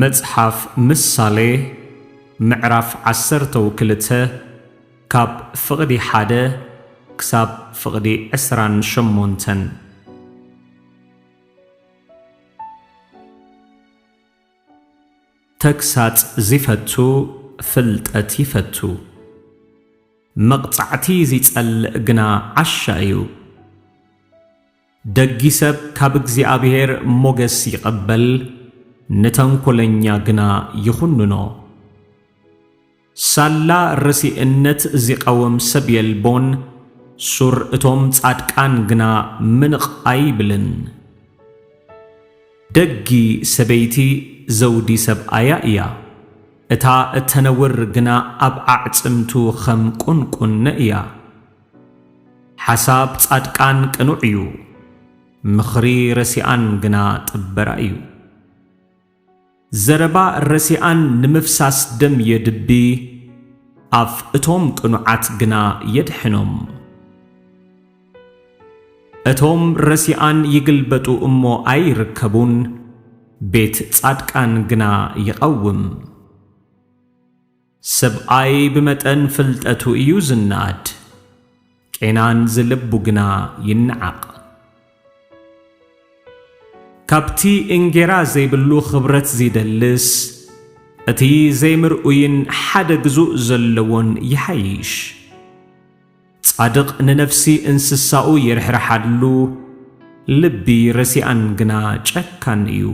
መጽሓፍ ምሳሌ ምዕራፍ ዓሰርተው ክልተ ካብ ፍቕዲ ሓደ ክሳብ ፍቕዲ ዕስራን ሸሞንተን ተግሳጽ ዚፈቱ ፍልጠት ይፈቱ፣ መቕጻዕቲ ዚጸልእ ግና ዓሻ እዩ። ደጊ ሰብ ካብ እግዚኣብሄር ሞገስ ይቐበል፣ ንተንኰለኛ ግና ይዅንኖ። ሳላ ረሲእነት ዚቃወም ሰብ የልቦን፣ ሱር እቶም ጻድቃን ግና ምንቕ ኣይብልን። ደጊ ሰበይቲ ዘውዲ ሰብኣያ እያ፣ እታ እተነውር ግና ኣብ ኣዕጽምቱ ኸም ቍንቍነ እያ። ሓሳብ ጻድቃን ቅኑዕ እዩ፣ ምኽሪ ረሲኣን ግና ጥበራ እዩ። ዘረባ ረሲኣን ንምፍሳስ ደም የድቢ፣ ኣፍ እቶም ቅኑዓት ግና የድሕኖም። እቶም ረሲኣን ይግልበጡ እሞ ኣይርከቡን፣ ቤት ጻድቃን ግና ይቐውም። ሰብኣይ ብመጠን ፍልጠቱ እዩ ዝነኣድ፣ ቄናን ዝልቡ ግና ይነዓቕ። ካብቲ እንጌራ ዘይብሉ ኽብረት ዚደልስ፣ እቲ ዘይምርኡይን ሓደ ግዙእ ዘለዎን ይሓይሽ። ጻድቕ ንነፍሲ እንስሳኡ ይርሕርሓሉ፣ ልቢ ረሲኣን ግና ጨካን እዩ።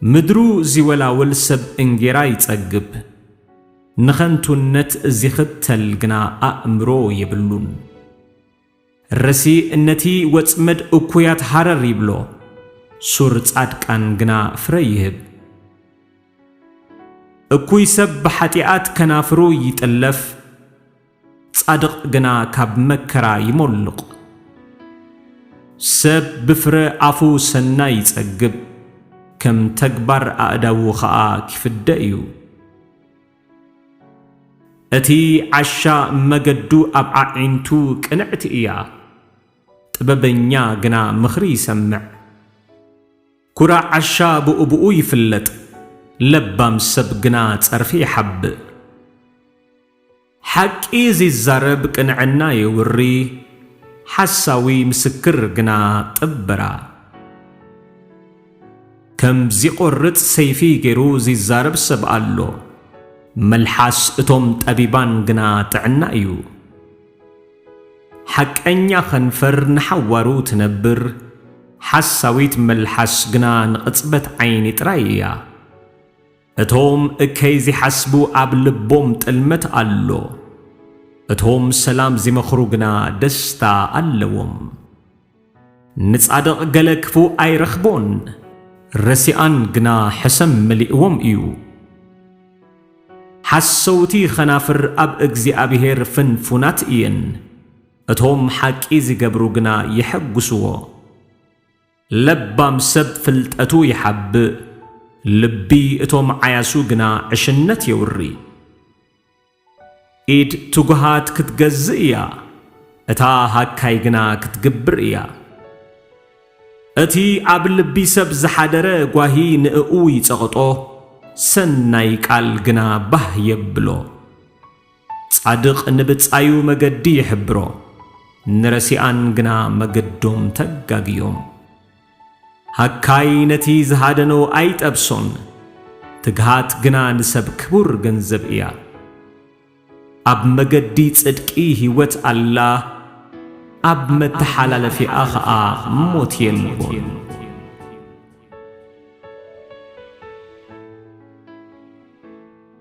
ምድሩ ዚወላውል ሰብ እንጌራ ይጸግብ፣ ንኸንቱነት ዚኽተል ግና ኣእምሮ የብሉን። ረሲእ ነቲ ወጽመድ እኩያት ሃረር ይብሎ፣ ሱር ጻድቃን ግና ፍረ ይህብ። እኩይ ሰብ ብሓጢኣት ከናፍሩ ይጥለፍ። ጻድቕ ግና ካብ መከራ ይሞልቕ። ሰብ ብፍረ ኣፉ ሰናይ ይጸግብ፣ ከም ተግባር ኣእዳዉ ኸኣ ኪፍደ እዩ። እቲ ዓሻ መገዱ ኣብ ኣዒንቱ ቅንዕቲ እያ፣ ጥበበኛ ግና ምኽሪ ይሰምዕ። ኵራዕ ዓሻ ብኡብኡ ይፍለጥ፣ ለባም ሰብ ግና ጸርፊ ይሓብእ። ሓቂ ዚዛረብ ቅንዕና የውሪ፣ ሓሳዊ ምስክር ግና ጥበራ። ከም ዚቖርጽ ሰይፊ ገይሩ ዚዛረብ ሰብ ኣሎ፣ መልሓስ እቶም ጠቢባን ግና ጥዕና እዩ። ሓቀኛ ኸንፈር ንሓዋሩ ትነብር፣ ሓሳዊት መልሓስ ግና ንቕጽበት ዓይኒ ጥራይ እያ። እቶም እከይ ዚሓስቡ ኣብ ልቦም ጥልመት ኣሎ፣ እቶም ሰላም ዚመኽሩ ግና ደስታ ኣለዎም። ንጻድቕ ገለ ክፉእ ኣይረኽቦን፣ ረሲኣን ግና ሕሰም መሊእዎም እዩ። ሓሰውቲ ኸናፍር ኣብ እግዚኣብሄር ፍንፉናት እየን፣ እቶም ሓቂ ዚገብሩ ግና የሐጕስዎ። ለባም ሰብ ፍልጠቱ ይሓብእ፣ ልቢ እቶም ዓያሱ ግና ዕሽነት የውሪ። ኢድ ትጉሃት ክትገዝእ እያ፣ እታ ሃካይ ግና ክትግብር እያ። እቲ ኣብ ልቢ ሰብ ዝሓደረ ጓሂ ንእኡ ይጸቕጦ፣ ሰናይ ቃል ግና ባህ የብሎ። ጻድቕ ንብጻዩ መገዲ ይሕብሮ፣ ንረሲኣን ግና መገዶም ተጋግዮም። ሃካይ ነቲ ዝሃደኖ ኣይጠብሶን፣ ትግሃት ግና ንሰብ ክቡር ገንዘብ እያ። ኣብ መገዲ ጽድቂ ህይወት ኣላ፣ ኣብ መተሓላለፊኣ ኸኣ ሞት የልቦን።